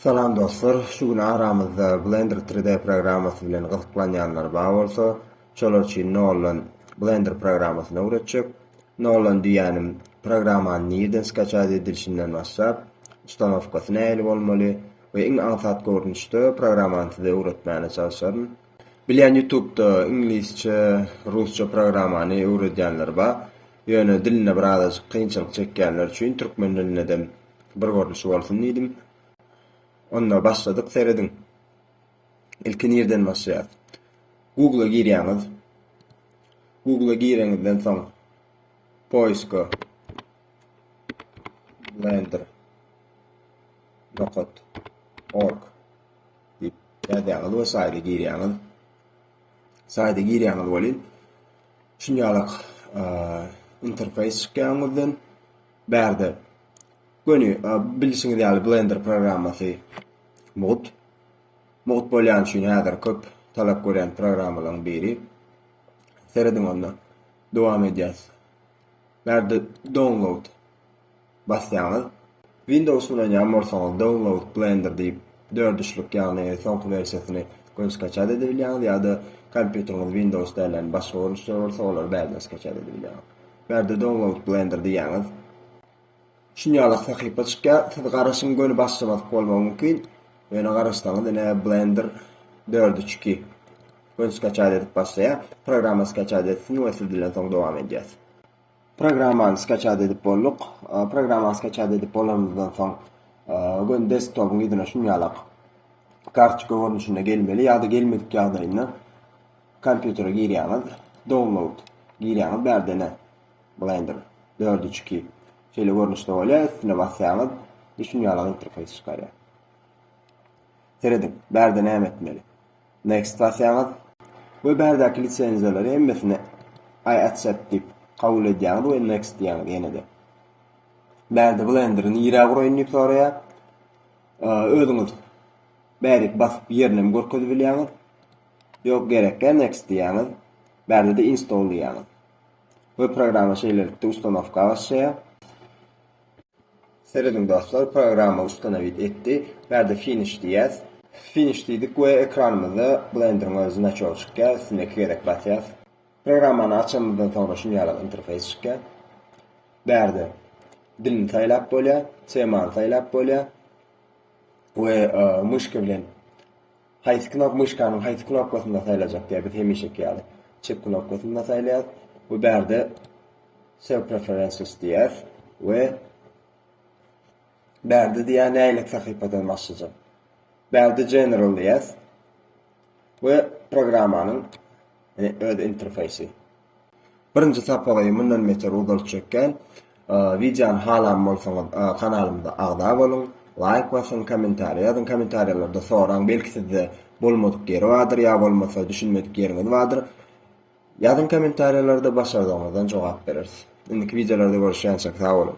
Salam dostlar, şu gün aramyzda Blender 3D programmasy bilen gyzyklanýanlar bar bolsa, şolar üçin noldan Blender programmasyny öwretjek. Noldan diýýänim, programmany nirden skaçat edilişinden başlap, ustanowkasy nähili bolmaly we iň aňsat görnüşde programmany size öwretmäne çalşaryn. Bilýän ýutubda iňlisçe, rusça programmany öwredýänler bar, ýöne dilinde birazajyk kynçylyk çekýänler üçin türkmen dilindedem Bir görnüşi bolsun diýdim. Onda başladyk serediň. Ilki nirden başlaýas? Google-a girýäňiz. Google-a gireňizden soň poiska blender nokat org diýip ýazýaňyz we saýda girýäňiz. Saýda girýäňiz welin şunýalak interfeýs çykýar öňüňizden. Bärde göni bilşiňiz ýaly blender programmasy mugt. Mugt bolýany üçin häzir köp talap görýän programmalaryň biri. Serediň onda. Dowam edýäs. Bärde download basýaňyz. Windows ulanýan bolsaňyz download blender diýip dördüşlük ýagny soňky wersiýasyny göni skaçat edip bilýäňiz ýa-da kompýuteriňiz windows dälän başga görnüşler bolsa olary bärden skaçat edip bilýäňiz. Bärde download blender diýýäňiz. Şunýaly sahypa çykýar. Siz garaşyň göni başlamadyk bolmagy mümkin. Ýöne garaşsaňyz ine blender 4.2 göni skaçat edip başlaýar. Programma skaçat etsin we siz dilen soň dowam edýäs. Programmany skaçat edip bolduk. Programmany skaçat edip bolanymyzdan soň göni desktopyň ýüzüne şunýalak kartoçka görnüşinde gelmeli ýa-da gelmedik ýagdaýynda Kompýutere girýäňiz, download girýäňiz bärdene Blender dört üç iki şeýle görnüşde bolýar, üstüne basýaňyz we şunuň ýaly interfeýs çykarýar. Serediň, bärde näme etmeli? Next basýaňyz we bärdäki lisenziýalary hemmesini I accept diýip kabul edýäňiz we next diýýäňiz ýene-de. Bärde Blenderi nirä guraýyn diýip soraýar. Özüňiz bärik basyp ýerinem görkezip bilýäňiz. Ýok gerekkä next diýýäňiz bärde-de install diýýäňiz we programma şeýlelikde ustanowka başlaýar. Serediň dostlar programma ustanowit etdi bärde finish diýýäs finish diýdik we ekranymyzda blenderiň öz znaçogy çykýar üstüne iki gezek basýas programmany açanymyzdan soňra şunýalak interfeýs çykýar bärde dilini saýlap bolýar temany saýlap bolýar we myşka bilen Haýsy knop myşkanyň haýsy knopkasynda saýlajak diýýär, biz hemişeki ýaly çep knopkasynda saýlaýas we bärde Show preferences diýýäs we bärde diýýär nähili sahypadan başlajak. Bärde general diýýäs we programmanyň öz interfeýsi. Birinji sapagy mundan beter uzaltjakgän wideony halan bolsaňyz kanalymyza agza boluň, laýk basyň, kommentariýa ýazyň, kommentariýalarda soraň, belki sizde bolmadyk ýeri bardyr ýa bolmasa düşünmedik ýeriňiz bardyr. Ýazyň kommentariýalarda başardygyňyzdan jogap bereris. Indiki wideolarda görüşýänçäk sag boluň.